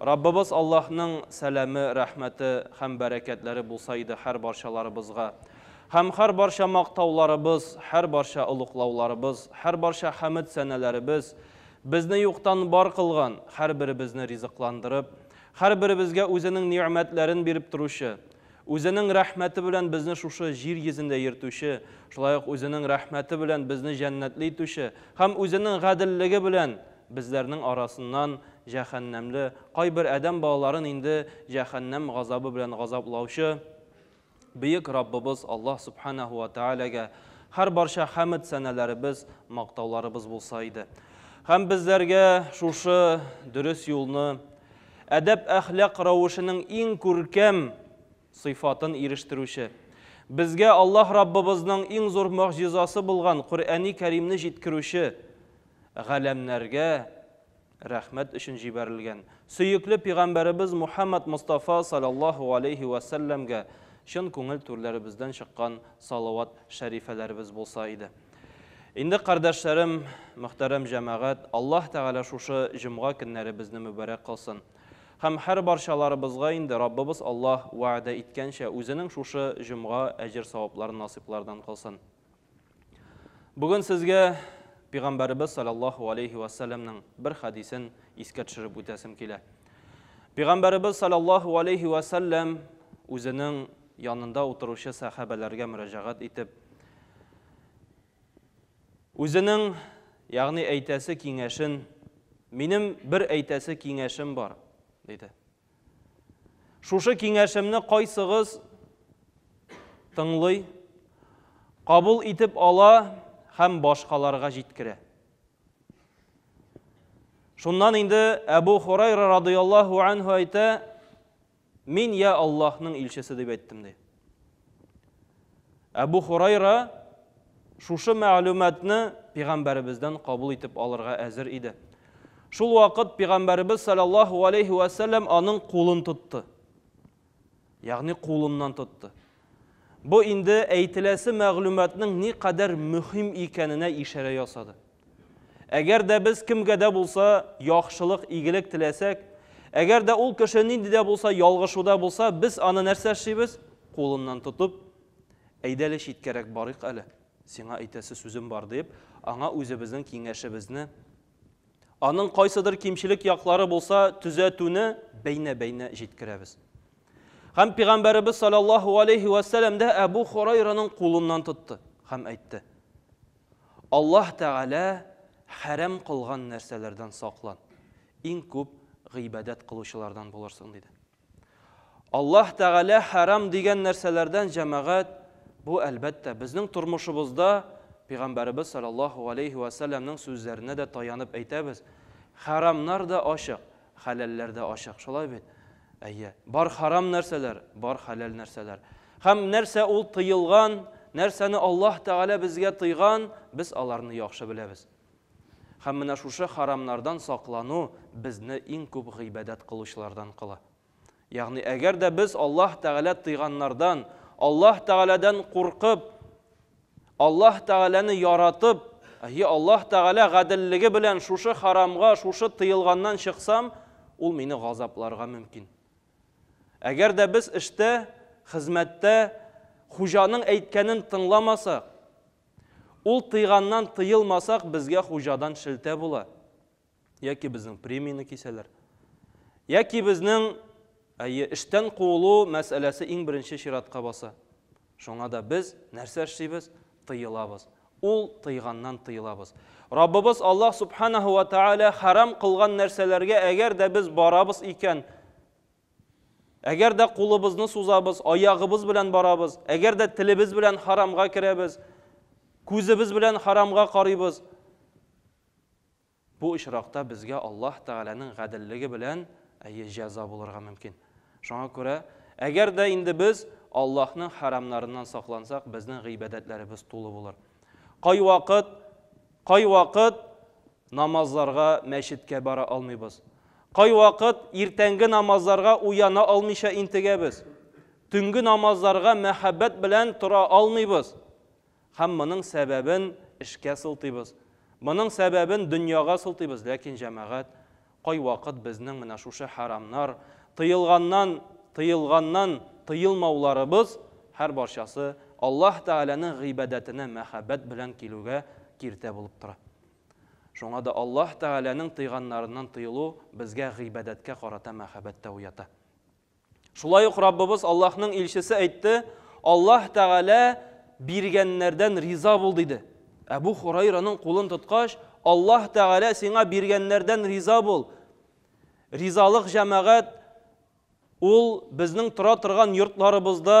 Раббыбыз Аллаһның сәламе, рәхмәте һәм бәрәкәтләре булса иде һәр барчаларыбызга! Һәм һәр барча мактауларыбыз, һәр барча олуглауларыбыз, һәр барча хәмед сәнәләребез, безне юктан бар кылган, һәрберебезне ризыкландырып, һәрберебезгә Үзенең нигъмәтләрен биреп торучы, Үзенең рәхмәте белән безне шушы җир йөзендә йөртүче, шулай ук Үзенең рәхмәте белән безне җәннәтле итүче һәм Үзенең гаделлеге белән Безләрнең арасыннан җәһәннәмле, кайбер адәм балаларын инде җәһәннәм газабы белән газаплаучы Бөек Раббыбыз Аллаһ Сүбхәнәһү вә Тәгаләгә һәр барча хәмд сәнәләребез, мактауларыбыз булса иде. Һәм безләргә шушы дөрес юлны, әдәп-әхлак рәвешенең иң күркәм, сыйфатын ирештерүче. Безгә Аллаһ Раббыбызның иң зур могҗизасы булган Коръәни Кәримне җиткерүче, галәмнәргә рәхмәт өчен җибәрелгән, сөекле пигамбәребез Мухәммәд Мостафа саләллаһу галәйһи вә сәлләмгә чын күңел түрләребездән чыккан салават шәрифәләребез булса иде. Инде, кардәшләрем, мөхтәрәм җәмәгать, Аллаһ Тәгалә шушы җомга көннәребезне мөбарәк кылсын. Һәм һәр барчаларыбызга инде Раббыбыз Аллаһ вәгъдә иткәнчә, Үзенең шушы җомга әҗер-савапларын насыйплардан кылсын. Бүген сезгә Пигамбәребез саллаллаһу алейһи вә сәлләмнең бер хәдисен искә төшереп үтәсем килә. Пигамбәребез саллаллаһу алейһи вә сәлләм үзенең янында утыручы сәхәбәләргә мөрәҗәгать итеп, Үзенең, ягъни әйтәсе киңәшен, минем бер әйтәсе киңәшем бар, диде. Шушы киңәшемне кайсыгыз тыңлый, кабул итеп ала һәм башкаларга җиткерә. Шуннан инде Әбу Хурайра радыйаллаһу анһу әйтә, Мин я Аллаһның илчесе дип әйттем, ди. Әбу Хурайра шушы мәгълүматны пигамбәребездән кабул итеп алырга әзер иде. Шул вакыт пигамбәребез саллаллаһу алейхи ва саллям аның кулын тотты. Ягъни кулыннан тотты. Бу инде әйтеләсе мәгълүматның ни кадәр мөһим икәненә ишарә ясады. Әгәр дә без кемгә дә булса яхшылык, игелек теләсәк, әгәр дә ул кеше нинди дә булса ялгышуда булса, без аны нәрсә эшлибез? Кулыннан тотып, Әйдә әле читкәрәк барыйк әле, сиңа әйтәсе сүзем бар, дип, аңа үзебезнең киңәшебезне, аның кайсыдыр кимчелек яклары булса, төзәтүне бәйнә-бәйнә җиткерәбез. Һәм Пигамбәребез саллаллаһу алейһи вәссәләм дә Әбу Хурайраның кулыннан тотты һәм әйтте, Аллаһ Тәгалә хәрам кылган нәрсәләрдән саклан, иң күп гыйбадәт кылучылардан булырсың, диде. Аллаһ Тәгалә хәрам дигән нәрсәләрдән, җәмәгать, бу, әлбәттә, безнең тормышыбызда Пәйгамбәребез салләллаһу галәйһи вә сәлләмнең сүзләренә дә таянып әйтәбез, хәрамнар да ачык, Хәләлләр дә ачык, шулай бит? Әйе. Бар харам нәрсәләр, бар хәләл нәрсәләр. Һәм нәрсә ул тыелган, нәрсәне Аллаһ Тәгалә безгә тыйган, без аларны яхшы беләбез. Һәм менә шушы харамнардан саклану безне иң күп гыйбадәт кылучылардан кыла. Ягъни әгәр дә без Аллаһ Тәгалә тыйганнардан, Аллаһ Тәгаләдән куркып, Аллаһ Тәгаләне яратып, әйе, Аллаһ Тәгалә гаделлеге белән шушы харамга, шушы тыелганнан чыксам, ул мине газапларга мөмкин. Әгәр дә без эштә, хезмәттә хуҗаның әйткәнен тыңламасак, ул тыйганнан тыелмасак, безгә хуҗадан шелтә була. Яки безнең премияне кисәләр. Яки безнең, әйе, эштән куылу мәсьәләсе иң беренче чиратка баса. Шуңа да без нәрсә эшлибез? Тыелабыз. Ул тыйганнан тыелабыз. Раббыбыз Аллаһ Субханаһу ва Тааля харам кылган нәрсәләргә әгәр дә без барабыз икән, әгәр дә кулыбызны сузабыз, аягыбыз белән барабыз, әгәр дә телебез белән харамга керәбез, күзебез белән харамга карыйбыз, Бу очракта безгә Аллаһ Тәгаләнең гаделлеге белән, әйе, җәза булырга мөмкин. Шуңа күрә, әгәр дә инде без Аллаһның хәрамнарыннан саклансак, безнең гыйбадәтләребез тулы булыр. Кайвакыт, кайвакыт намазларга мәчеткә бара алмыйбыз. Кайвакыт иртәнге намазларга уяна алмыйча интегәбез. Төнге намазларга мәхәббәт белән тора алмыйбыз. Һәм моның сәбәбен эшкә сылтыйбыз. Моның сәбәбен дөньяга сылтыйбыз. Ләкин, җәмәгать, кайвакыт безнең менә шушы хәрамнар, тыелганнан, тыелганнан тыелмауларыбыз, һәрбарчасы Аллаһ Тәгаләнең гыйбадәтенә мәхәббәт белән килүгә киртә булып тора. Шуңа да Аллаһ Тәгаләнең тыйганнарыннан тыелу безгә гыйбадәткә карата мәхәббәт тә уята. Шулай ук Раббыбыз Аллаһның илчесе әйтте, Аллаһ Тәгалә биргәннәрдән риза бул диде. Әбу Хурайраның кулын тоткач, Аллаһ Тәгалә сиңа биргәннәрдән риза бул. Ризалык җәмәгать ул безнең тора торган йортларыбызда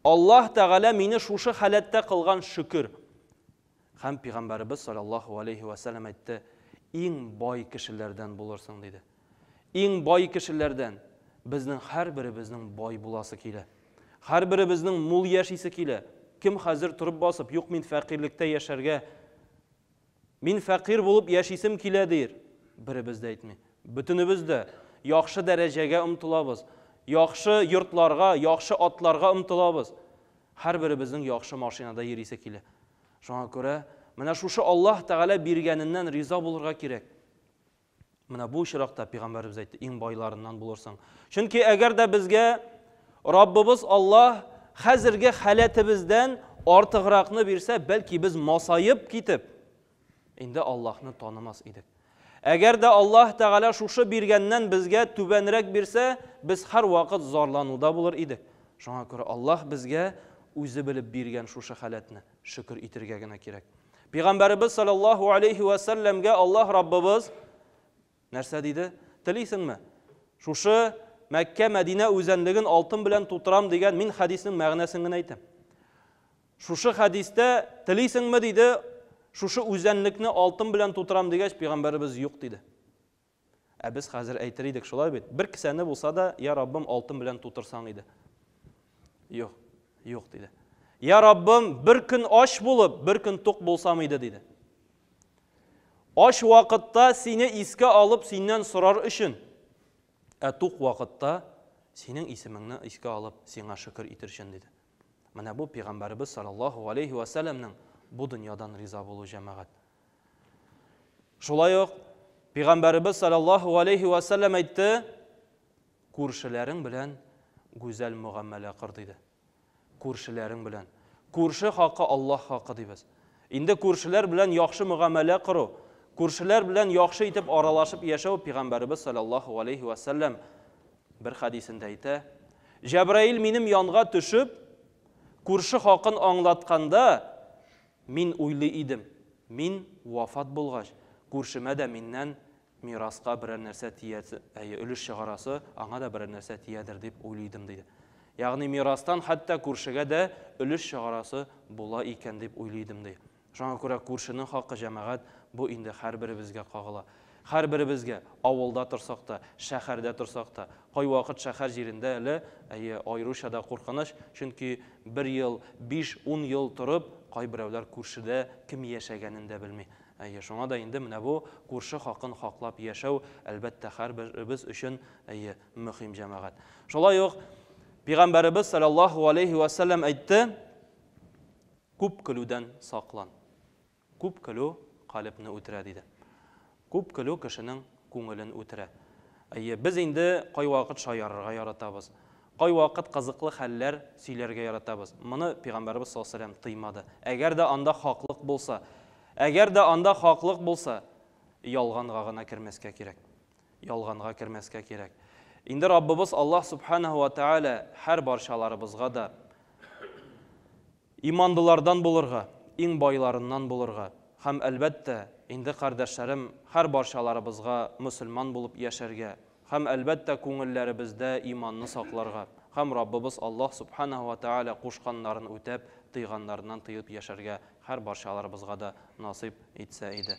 Аллаһ Тәгалә мине шушы халәттә кылган, шөкер. Һәм Пигамбәребез салләллаһу галәйһи вә сәлләм әйтте, Иң бай кешеләрдән булырсың, диде. Иң бай кешеләрдән. Безнең һәрберебезнең бай буласы килә. Һәрберебезнең мул яшисе килә. Кем хәзер торып басып, Юк, мин фәкыйрьлектә яшәргә. Мин фәкыйрь булып яшисем килә, диер. Беребез дә әйтми. Бөтенебез дә яхшы дәрәҗәгә омтылабыз. Яхшы йортларга, яхшы атларга омтылабыз. Һәрберебезнең яхшы машинада йөрисе килә. Шуңа күрә, менә шушы Аллаһ Тәгалә биргәненнән риза булырга кирәк. Менә бу очракта пәйгамбәребез әйтте, иң байларыннан булырсың. Чөнки әгәр дә безгә Раббыбыз Аллаһ хәзерге халәтебездән артыгракны бирсә, бәлки без масаеп китеп, инде Аллаһны танымас идек. Әгәр дә Аллаһ Тәгалә шушы биргәннән безгә түбәнрәк бирсә, без һәрвакыт зарлануда булыр идек. Шуңа күрә Аллаһ безгә үзе белеп биргән шушы халәтне. Шөкер итергә генә кирәк. Пәйгамбәребез саллаллаһу алейхи ва сәлләмгә Аллаһ Раббыбыз нәрсә диде? Телисеңме? Шушы Мәккә, Мәдинә үзәнлеген алтын белән тутырам дигән мин хәдиснең мәгънәсен генә әйтәм. Шушы хәдистә телисеңме диде, шушы үзәнлекне алтын белән тутырам дигәч, пәйгамбәребез юк диде. Ә без хәзер әйтер идек, шулай бит? Бер кесәне булса да, я Раббым, алтын белән тутырсаң иде. Юк, юк, диде. Я Раббым, бер көн ач булып, бер көн тук булсам иде, диде. Ач вакытта сине искә алып, синнән сорар өчен, ә тук вакытта синең исемеңне искә алып, сиңа шөкер итер өчен, диде. Менә бу пәйгамбәребез саллаллаху алейхи ва сәлләмнең бу дөньядан риза булу җәмәгать. Шулай ук Пәйгамбәребез саллаллаху алейхи ва саллям әйтте, күршеләрең белән гүзәл мөгамәлә кыр диде. Күршеләрең белән. Күрше хакы Аллаһ хакы дибез. Инде күршеләр белән яхшы мөгамәлә кыру, күршеләр белән яхшы итеп аралашып яшәү Пәйгамбәребез саллаллаху алейхи ва саллям бер хадисендә әйтә, Җәбраил минем янга төшеп, күрше хакын аңлатканда, Мин уйлый идем, мин вафат булгач, күршемә дә миннән мираска берәр нәрсә тиярсе, әйе, өлеш чыгарасы, аңа да берәр нәрсә тиядер дип уйлый идем, диде. Ягъни мирастан хәтта күршегә дә өлеш чыгарасы була икән дип уйлый идем, ди. Шуңа күрә күршенең хакы, җәмәгать, бу инде һәрберебезгә кагыла. Һәрберебезгә, авылда торсак та, шәһәрдә торсак та, кайвакыт шәһәр җирендә әле, әйе, аеруча да куркыныч, чөнки бер ел, биш, ун ел торып, кайберәүләр күршедә кем яшәгәнен дә белми. Әйе, шуңа да инде менә бу күрше хакын хаклап яшәү, әлбәттә, һәрберебез өчен, әйе, мөһим, җәмәгать. Шулай ук Пигамбәребез салләллаһу галәйһи вә сәлләм әйтте, Күп көлүдән саклан. Күп көлү калебне үтерә, диде. Күп көлү кешенең күңелен үтерә. Әйе, без инде кайвакыт шаярырга яратабыз. Кайвакыт кызыклы хәлләр сөйләргә яратабыз. Моны Пигамбәребез саллаллаһу галәйһи ва сәлләм тыймады. Әгәр дә анда хаклык булса, әгәр дә анда хаклык булса, ялганга гына кермәскә кирәк. Ялганга кермәскә кирәк. Инде Раббыбыз Аллаһ субханаһу ва тәгалә һәрбарчаларыбызга да. Иманлылардан булырга, иң байларыннан булырга һәм, әлбәттә, инде, кардәшләрем, һәр барчаларыбызга мөселман булып яшәргә һәм, әлбәттә, күңелләребездә иманны сакларга һәм Раббыбыз Аллаһ Субханаһу ва Тәгалә кушканнарын үтәп, тыйганнарыннан тыеп яшәргә һәр барчаларыбызга да насыйп итсә иде.